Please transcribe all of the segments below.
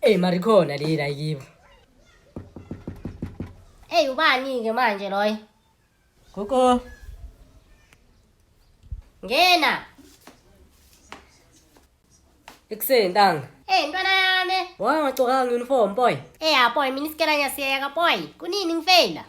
Hey mari khona le la yibo. Hey ubani ke manje loyo? Gugu. Ngena. Ikuseni ntanga. Hey ntwana yami. Wangagcokanga uniform boy. Eh ya boy mina isikela ngiyasiyeka boy. Kunini ngifeyila?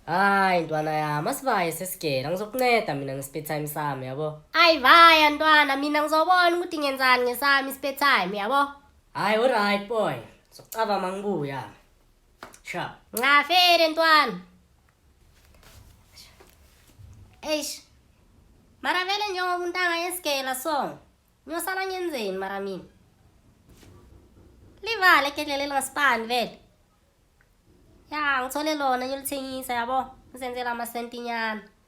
Hayi ntwana yami asivaye sesigela ngizokunceda mina nge-spare time sami yabo. Ayi vaya ntwana mina ngizobona ukuthi ngenzani ngesami i-spare time yabo. Hayi alright boy. Sokucaba mangibuya. Sure. Ngafere ntwana. Eish. Mara vele njengoba umuntu angayesigela so. Ngiyosala ngenzeni mara mina? Livale igedlela elingasipani vele. Ya, ngithole lona ngilithengisa yabo. Ngizenzela amasentinyana.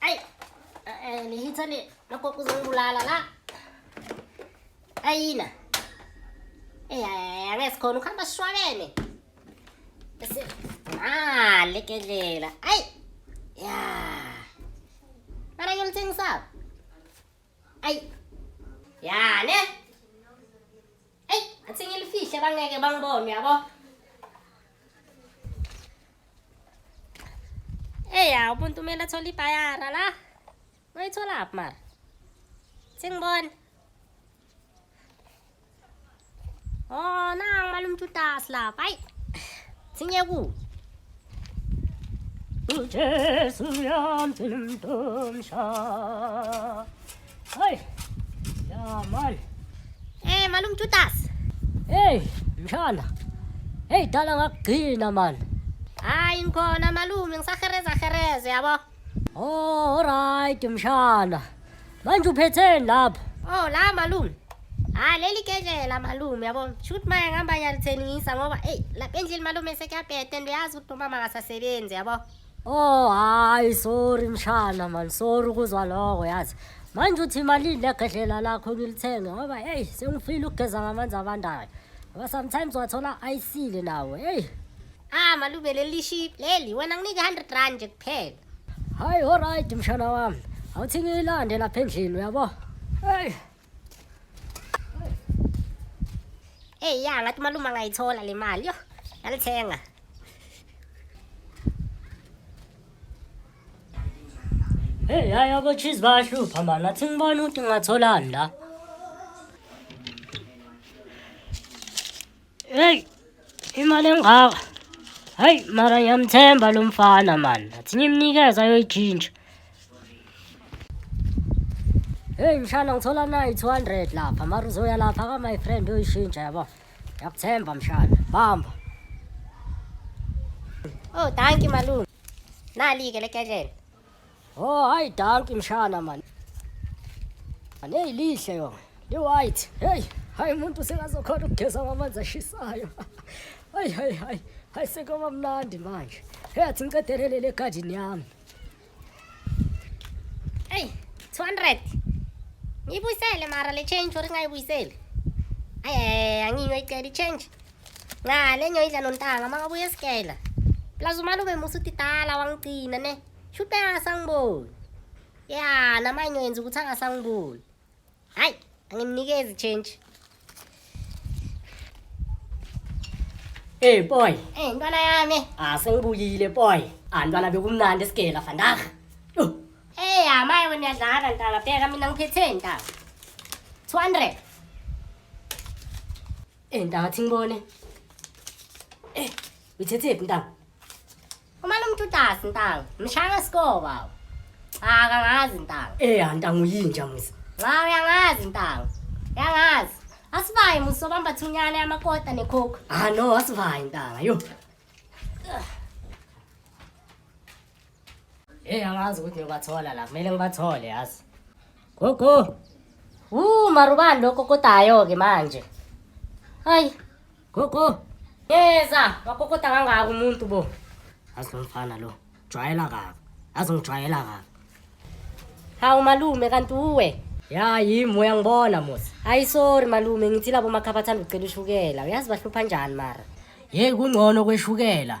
Ay, eh, nihitha ni makoko uzongibulala la. Ayina. Eh, angeke sikhona ukuhamba sishwabene. Bese ah lekelela. Ay. Ya. Mara ngimthengisa. Ay. Ya, ne? Eyi, athi ngilifihle bangeke bangibone yabo. Eya, umuntu kumele athole ibhayara la. Noyitholaphi mara? Sengibona. Oh, nang malum tutas la. Pai. Sinye ku. Jesu yam tinum tum sha. Ay! Ya mal! Eh, malum tutas. Hey, mshana. Hey, dala ngakugcina man. Hayi ngikhona malume ngisahereza hereze yabo. Oh, alright mshana. Manje uphetheni lapho? Oh, la malume. Ah, leli kedlela malume yabo. Shoot maya ngihamba ngiyalithengisa ngoba hey, lapha endlini malume sekuyabheda and uyazi ukuthi umama akasasebenzi yabo. Oh hayi sorry mshana man sorry ukuzwa lokho yazi. Manje uthi imali legedlela lakho ngilithenge ngoba hey sengifile ukugeza ngamanzi abandayo. Ngoba sometimes wathola ayisile nawo. Hey. Ah malube leli ship leli wena nginike 100 rand nje kuphela. Hayi alright mshana wami. Awuthi ngiyilande lapha endlini uyabo. Hey. Eyi ya ngathi umalume angayithola le mali yo yalithenga Hey hayi abotshizi bayahlupha mani nathi ngibona ukuthi ngingatholani la Hey, imali engaka. Hayi, mara ngiyamthemba lo mfana man. Athi ngimnikeza ayoyitshintsha. Hey mshana ngithola nayi 200 lapha. Mara uzoya lapha ka my friend uyishintsha yabo. Ngiyakuthemba mshana. Bamba. Oh, thank you malume. Nali ke lekedlela. Oh hayi dark mshana man. Hey lihle yo. Li white. Hey, hayi umuntu sekazokhona ukugeza ngamanzi ashisayo. Hayi hayi hayi. Hayi sekuba mnandi manje. Hey athi ngicedelele le garden yami. Hey, 200. Ngibuyisele mara le change or ngayibuyiseli. Ay ay angiyoyicela i change. ngane ngiyoyidla nontanga uma ngabuye esigela plus umalume musa utidala wangigcina ne shuthi angasangiboni ya namanye ngiyoyenza ukuthi angasangiboni hhayi angimnikezi change Hey boy, Eh, ntwana yami. ah sengibuyile boy. Ah ntwana bekumnandi esigela vandag. Yho, Eh, hamaye wena uyadlala ntanga. Bheka mina ngiphethe ntanga. 200. Eh ntanga thi ngibone. Eh uyithethephi ntanga? Uma lo muntu utasi ntanga, mshaya ngesikoba baba. Cha kangazi ntanga. Eh ya ntanga uyinja misa. Cha uyangazi ntanga. Uyangazi. Asivaye muso bamba thunyana yamakota necoke. Ah no asivaye ntanga yo. Hey angazi ukuthi ngiyobathola la. Kumele ngibathole yazi. Gogo. Uh marubani lokho kokotayo ke manje. Hayi. Gogo. Yeza, wakokota kangaka umuntu bo. Yazi lo mfana lo. Jwayela kabi. Yazi ngijwayela kabi. Hawu malume kanti uwe. Ya yimi uyangibona musa. Hayi sorry malume ngithi labo makhabathanda ucela ushukela. Uyazi bahlupha njani mara? Hey kungcono kweshukela.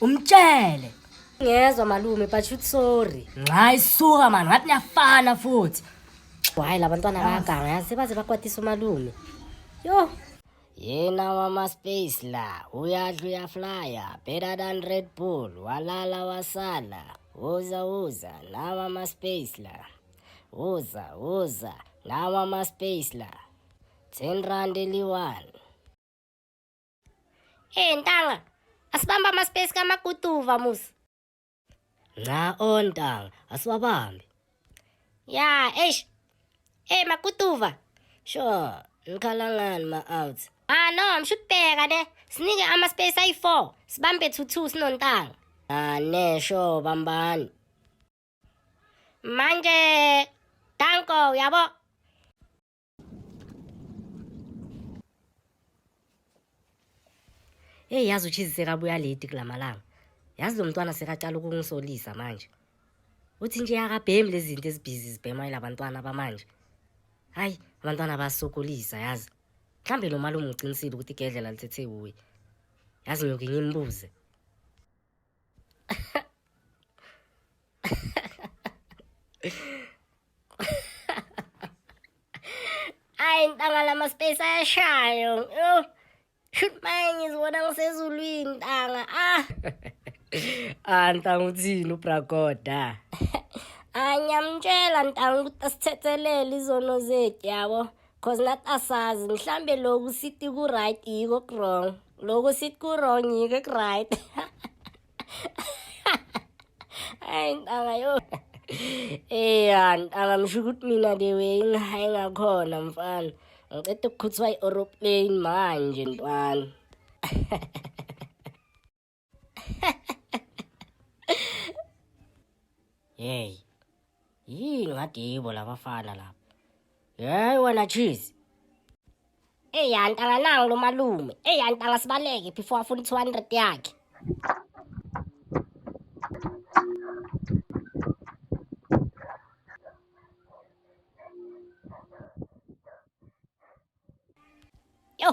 umtshele ngezwa malume but shoot sorry nxa isuka mani ngathi niyafana futhi hhayi la bantwana bayaganga yazi baze bakwatisa umalume yho yena wamaspace la uyadla uyaflya better than red bull walala wasala uza uza nawa amaspace la uza uza nawa amaspace la 10 rand eliyi-one Hey ntanga, asibamba ama space kamaguduva musa. Nca ontanga, asiwabambi. Ya, eish. Hey maguduva. Sure, ngikhalangani ma out. Ah no, mshubheka ne. Sinike ama space ayi4, sibambe 2 2 sinontanga. Ah ne, sure bambani. Manje, danko, uyabo? Hey yazi uchizi sekabuya late kulamalanga. Yazi lo mntwana sekaqala ukungisolisa manje. Uthi nje akabhemi lezi zinto ezibhizi zibhema ilabantwana bamanje. Hayi, abantwana basokolisa yazi. Mhlambe lo malume uqinisile ukuthi igedlela lithethe kuye. Yazi ngiyoke ngimbuze. Ay, ntanga lama space ayashayo. Yo. Shoot manje ngizibona ngisezulwini ntanga. Ah. ah ntanga uthini ubragoda? Anyamtshela ntanga ukuthi asithethelele izono zethu yabo. Cause nathi asazi mhlambe loku sithi ku right yiko ku wrong. Loku sithi ku wrong yiko ku right. Ay ntanga yo. Eh ntanga msho ukuthi mina the way ngihayi ngakhona mfana. Ngicela ukukhuthwa i-aeroplane manje ntwana. Hey. Yini ngathi yibo labafana lapha. Hey wena cheese. Ey antanga nangu lo malume. Ey antanga sibaleke before afuna 200 yakhe. Yo,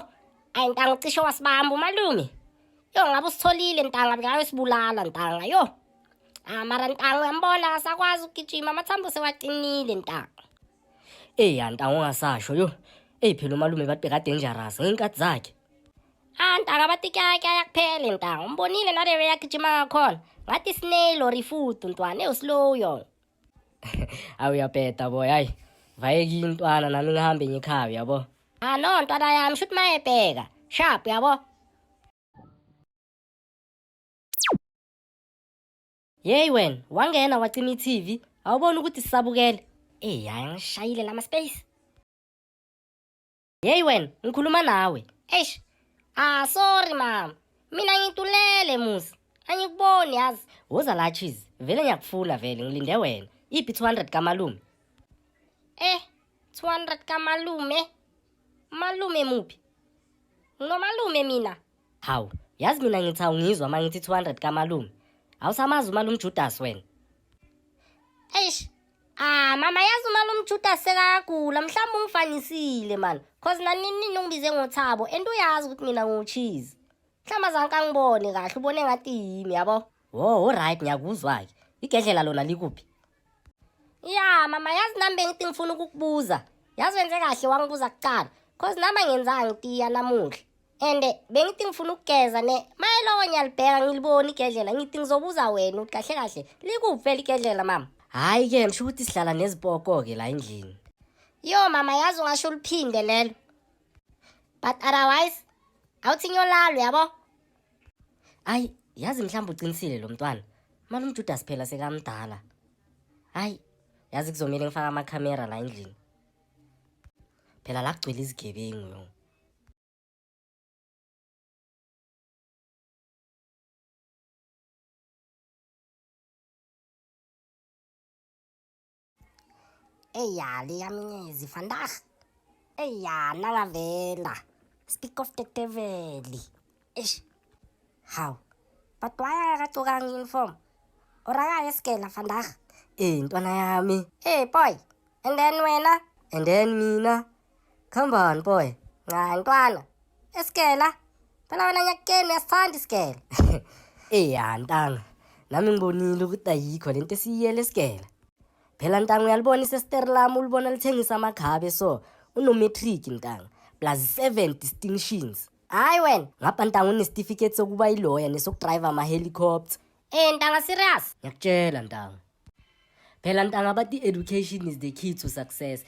ayi ntanga ucishe wasibamba umalume. Yo ngabe usitholile ntanga ngayo sibulala ntanga yo. Ah mara ntanga uyambona akasakwazi ukugijima amathambo sewaqinile ntanga. Ey ntanga ungasasho yo. Ey phela umalume bathi kade dangerous ngenkathi zakhe. Ah ntanga bathi kyakya yakuphele ntanga umbonile naleyo yakugijima ngakhona. Ngathi snail or ifudu ntwana ewslow yo. awu uyabheda boy hayi vayeki intwana nami ngihambe ngikhaya uyabo ah no ntwana yami shuthi mayebheka sharp uyabo yeyi wena wangena wacima i-tv awuboni ukuthi sisabukele eyi hayi ngishayile lama-space Yeyi wena, ngikhuluma nawe. Eish. Ah, sorry mama. Mina ngitulele musi. Angikuboni yazi. Woza la cheese. Vele ngiyakufuna vele, ngilinde wena. Iphi 200 kamalume? Eh, 200 kamalume. Malume muphi? Ngomalume mina. Hawu, yazi mina ngithi awungizwa uma ngithi 200 kamalume. Awusamazi umalume Judas wena. Eish, Ah mama yazi uma lomjuda sekagula mhlawumbe ungifanisile man cause naninini ungibize ngothabo and uyazi ukuthi mina ngiwucheese mhlawumbe azanke angibone kahle ubone ngathi yimi yabo wo olright ngiyakuzwa-ke igedlela lona likuphi ya mama yazi nami bengithi ngifuna ukukubuza yazi wenze kahle wangibuza kuqala cause nami angenzanga ngitiya namuhla and bengithi ngifuna ukugeza ne mayelowo ngiyalibheka ngiliboni igedlela ngithi ngizobuza wena ukuthi kahle kahle likuphi phela igedlela mama hhayi-ke ngisho ukuthi sihlala nezipoko-ke la endlini yo mama yazi ungasho uliphinde lelo but otherwise awuthi ngiyolalwa yabo ayi yazi mhlawumbe uqinisile lo mntwana mali umjudasi phela sekamdala hayi yazi kuzomele ngifake amakhamera la endlini phela la kugcwele izigebengu yo Ey ya liyamnyezi vandag. Ey ya nalavela. Speak of the devil. Eish. How? But why akacokanga uniform? Oraya eskela vandag. Eh ntwana yami. Hey boy. And then wena? And then mina. Come on boy. Nca ntwana. Esikela. Phela wena nyakeni uyasithanda isikela. Eh ya ntanga. Nami ngibonile ukuthi ayikho lento esiyiyele esikela. Phela ntanga uyalibona isestere lami ulibona lithengisa amakhabe so unometric ntanga plus 7 distinctions. Hayi wena. Ngapha ntanga unesitifiketi sokuba iloya nesokudrive ama helicopter. Eh ntanga serious. Ngiyakutshela ntanga. Phela ntanga bathi education is the key to success.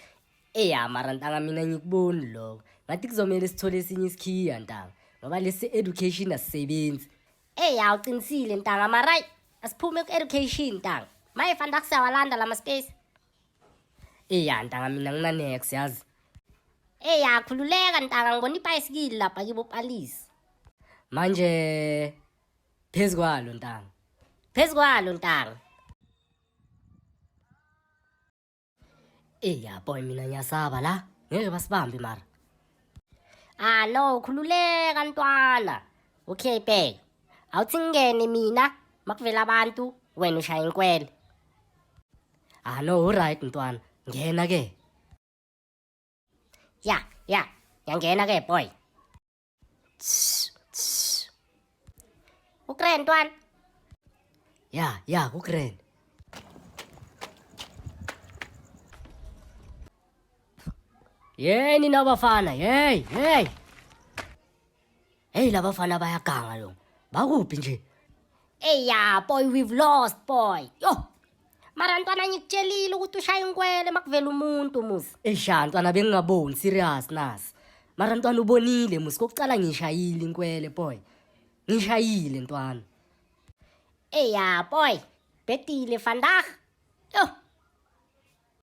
eya mara ntanga mina ngikuboni lokho ngathi kuzomele sithole esinye isikhiya ntanga ngoba lesi education asisebenzi eya uqinisile ntanga maray asiphume ku-education ntanga maye fanele akusiyawalanda la maspace eya ntanga mina nginanex yazi eya khululeka ntanga ngibona ibhayisikili lapha kibo palisi manje phezu kwalo ntanga phezu kwalo ntanga Ey ya boy mina ngiyasaba la. Ngeke basibambe mara. Ah no, khululeka ntwana. Okay bheka. Awuthi ngene mina makuvela abantu wena ushaya inkwele. Ah no, right ntwana. Ngena ke. Ya, ya. Yangena ke boy. Ukren ntwana. Ya, ya, ukren. Yey nina bafana, yey, yey. Hey labafana bayaganga lo. Bakuphi nje? Hey ya, boy, we've lost, boy. Yo, mara ntwana ngikutshelile ukuthi ushaya inkwele makuvela umuntu muzi esha ntwana bengingaboni serious nasi mara ntwana ubonile muzi kokucala ngishayile inkwele boy ngishayile ntwana eya boy betile vandag yo